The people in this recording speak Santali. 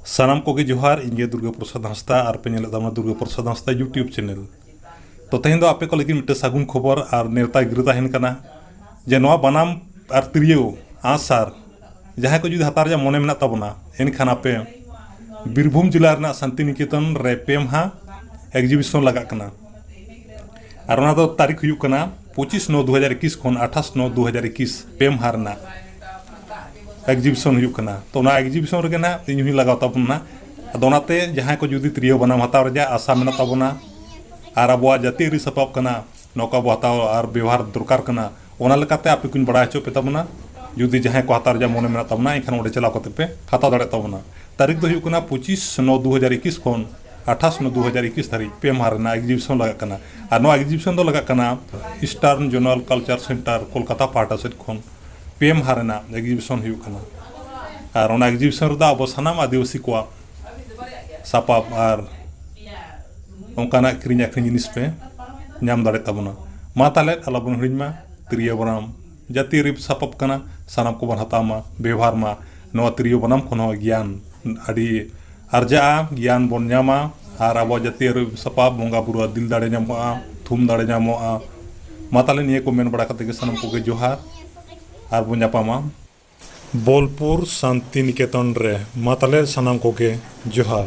ᱥᱟᱱᱟᱢ ᱠᱚᱜᱮ ᱡᱚᱦᱟᱨ ᱤᱧ ᱜᱮ ᱫᱩᱨᱜᱟ ᱯᱨᱚᱥᱟᱫᱽ ᱦᱟᱸᱥᱫᱟ ᱟᱨ ᱯᱮ ᱧᱮᱞᱮᱫ ᱛᱟᱵᱚᱱᱟ ᱫᱩᱨᱜᱟ ᱯᱨᱚᱥᱟᱫᱽ ᱦᱟᱸᱥᱫᱟ ᱭᱩᱴᱤᱭᱩᱵᱽ ᱪᱮᱱᱮᱞ ᱛᱚ ᱛᱮᱦᱮᱧ ᱫᱚ ᱟᱯᱮ ᱠᱚ ᱞᱟᱹᱜᱤᱫ ᱢᱤᱫᱴᱮᱱ ᱥᱟᱹᱜᱩᱱ ᱠᱷᱚᱵᱚᱨ ᱟᱨ ᱱᱮᱣᱛᱟ ᱜᱤᱨᱟᱹ ᱛᱟᱦᱮᱱ ᱠᱟᱱᱟ ᱡᱮ ᱱᱚᱣᱟ ᱵᱟᱱᱟᱢ ᱟᱨ ᱛᱤᱨᱭᱳ ᱟᱸᱜᱼᱥᱟᱨ ᱡᱟᱦᱟᱸᱭ ᱠᱚ ᱡᱩᱫᱤ ᱦᱟᱛᱟᱣ ᱨᱮᱭᱟᱜ ᱢᱚᱱᱮ ᱢᱮᱱᱟᱜ ᱛᱟᱵᱚᱱᱟ ᱮᱱᱠᱷᱟᱱ ᱟᱯᱮ ᱵᱤᱨᱵᱷᱩᱢ ᱡᱮᱞᱟ ᱨᱮᱱᱟᱜ ᱥᱟᱱᱛᱤᱱᱤᱠᱮᱛᱚᱱ ᱨᱮ ᱯᱮ ᱢᱟᱦᱟ ᱮᱠᱡᱤᱵᱤᱥᱚᱱ ᱞᱟᱜᱟᱜ ᱠᱟᱱᱟ ᱟᱨ ᱚᱱᱟ ᱫᱚ ᱛᱟᱹᱨᱤᱠᱷ ᱦᱩᱭᱩᱜ ᱠᱟᱱᱟ ᱯᱚᱸᱪᱤᱥ ᱱᱚ ᱫᱩ ᱦᱟᱡᱟᱨ ᱮᱠᱤᱥ ᱠᱷᱚᱱ ᱟᱴᱷᱟᱥ ᱱᱚ ᱫᱩ ᱦᱟᱡᱟᱨ ᱮᱠᱤᱥ ᱯᱮ ᱢᱟᱦᱟ ᱨᱮᱱᱟᱜ ᱮᱠᱡᱤᱵᱤᱥᱚᱱ ᱦᱩᱭᱩᱜ ᱠᱟᱱᱟ ᱛᱚ ᱚᱱᱟ ᱮᱠᱡᱤᱵᱤᱥᱚᱱ ᱨᱮᱜᱮ ᱱᱟᱜ ᱤᱧ ᱦᱚᱸᱧ ᱞᱟᱜᱟᱣ ᱛᱟᱵᱚᱱ ᱱᱟᱜ ᱟᱫᱚ ᱚᱱᱟᱛᱮ ᱡᱟᱦᱟᱸᱭ ᱠᱚ ᱡᱩᱫᱤ ᱛᱤᱨᱭᱳ ᱵᱟᱱᱟᱢ ᱦᱟᱛᱟᱣ ᱨᱮᱭᱟᱜ ᱟᱥᱟ ᱢᱮᱱᱟᱜ ᱛᱟᱵᱚᱱᱟ ᱟᱨ ᱟᱵᱚᱣᱟᱜ ᱡᱟᱹᱛᱤᱭᱟᱹᱨᱤ ᱥᱟᱯᱟᱵ ᱠᱟᱱᱟ ᱱᱚᱣᱟ ᱠᱚ ᱟᱵᱚ ᱦᱟᱛᱟᱣ ᱟᱨ ᱵᱮᱣᱦᱟᱨ ᱫᱚᱨᱠᱟᱨ ᱠᱟᱱᱟ ᱚᱱᱟ ᱞᱮᱠᱟᱛᱮ ᱟᱯᱮ ᱠᱚᱧ ᱵᱟᱲᱟᱭ ᱦᱚᱪᱚᱭᱮᱫ ᱯᱮ ᱛᱟᱵᱚᱱᱟ ᱡᱩᱫᱤ ᱡᱟᱦᱟᱸᱭ ᱠᱚ ᱦᱟᱛᱟᱣ ᱨᱮᱭᱟᱜ ᱢᱚᱱᱮ ᱢᱮᱱᱟᱜ ᱛᱟᱵᱚᱱᱟ ᱮᱱᱠᱷᱟᱱ ᱚᱸᱰᱮ ᱪᱟᱞᱟᱣ ᱠᱟᱛᱮ ᱯᱮ ᱦᱟᱛᱟᱣ ᱫᱟᱲᱮᱭᱟᱜ ᱛᱟᱵᱚᱱᱟ ᱛᱟᱹᱨᱤᱠᱷ ᱫᱚ ᱦᱩᱭᱩᱜ ᱠᱟᱱᱟ ᱯᱚᱸᱪᱤᱥ ᱱᱚ ᱫᱩ ᱦᱟᱡᱟᱨ ᱮᱠᱤᱥ ᱠᱷᱚᱱ ᱟᱴᱷᱟᱥ ᱢᱮ ᱫᱩ ᱦᱟᱡᱟᱨ ᱤᱠᱤᱥ ᱫᱷᱟᱹᱨᱤᱡ ᱯᱮ ᱢᱟᱦᱟ ᱨᱮᱱᱟᱜ ᱮᱠᱡᱤᱵᱤᱥᱚᱱ ᱞᱟᱜᱟᱜ ᱠᱟᱱᱟ ᱟᱨ ᱱᱚᱣᱟ ᱮᱠᱡᱤᱵᱤᱥᱚᱱ ᱫᱚ ᱞᱟᱜᱟᱜ ᱠᱟᱱᱟ eastern zonal cultural centre Kolkata ᱯᱟᱦᱴᱟ ᱥᱮᱫ ᱠᱷᱚᱱ ᱯᱮ ᱢᱟᱦᱟ ᱨᱮᱱᱟᱜ ᱮᱠᱡᱤᱵᱤᱥᱚᱱ ᱦᱩᱭᱩᱜ ᱠᱟᱱᱟ ᱟᱨ ᱚᱱᱟ ᱮᱠᱡᱤᱵᱤᱥᱚᱱ ᱨᱮᱫᱚ ᱟᱵᱚ ᱥᱟᱱᱟᱢ ᱟᱹᱫᱤᱵᱟᱹᱥᱤ ᱠᱚᱣᱟᱜ ᱥᱟᱯᱟᱵ ᱟᱨ ᱚᱱᱠᱟᱱᱟᱜ ᱠᱤᱨᱤᱧ ᱟᱹᱠᱷᱨᱤᱧ ᱡᱤᱱᱤᱥ ᱯᱮ ᱧᱟᱢ ᱫᱟᱲᱮᱭᱟᱜ ᱛᱟᱵᱚᱱᱟ ᱢᱟ ᱛᱟᱦᱚᱞᱮ ᱟᱞᱚ ᱵᱚᱱ ᱦᱤᱲᱤᱧ ᱢᱟ ᱛᱤᱨᱭᱳ ᱵᱟᱱᱟᱢ ᱡᱟᱹᱛᱤ ᱨᱤᱯ ᱥᱟᱯᱟᱵ ᱠᱟᱱᱟ ᱥᱟᱱᱟᱢ ᱠᱚᱵᱚᱱ ᱦᱟᱛᱟᱣ ᱢᱟ ᱵᱮᱵᱷᱟᱨ ᱢᱟ ᱱᱚᱣᱟ ᱛᱤᱨᱭᱳ ᱵᱟᱱᱟᱢ ᱠᱷᱚᱱ ᱦᱚᱸ ᱜᱮᱭᱟᱱ ᱟᱹᱰᱤ ᱟᱨᱡᱟᱜᱼᱟ ᱜᱮᱭᱟᱱ ᱵᱚᱱ ᱧᱟᱢᱟ ᱟᱨ ᱟᱵᱚᱣᱟᱜ ᱡᱟᱹᱛᱤᱭᱟᱹᱨᱤ ᱨᱤᱯ ᱥᱟᱯᱟᱵ ᱵᱚᱸᱜᱟ ᱵᱩᱨᱩ ᱟᱜ ᱫᱤᱞ ᱫᱟᱲᱮ ᱧᱟᱢᱚᱜᱼᱟ ᱛᱷᱩᱢ ᱫᱟᱲᱮ ᱧᱟᱢᱚᱜᱼᱟ ᱢᱟ ᱛᱟᱦᱚᱞᱮ ᱱᱤᱭᱟᱹ ᱠᱚ ᱢᱮᱱ ᱵᱟᱲᱟ ᱠᱟᱛᱮ ᱜᱮ ᱥᱟᱱᱟᱢ ᱠᱚᱜᱮ ᱡᱚᱦᱟᱨ ᱟᱨ ᱵᱚᱱ ᱧᱟᱯᱟᱢᱟ ᱵᱳᱞᱯᱩᱨ ᱥᱟᱱᱛᱤᱱᱤᱠᱮᱛᱚᱱ ᱨᱮ ᱢᱟ ᱛᱟᱦᱚᱞᱮ ᱥᱟᱱᱟᱢ ᱠᱚᱜᱮ ᱡᱚᱦᱟᱨ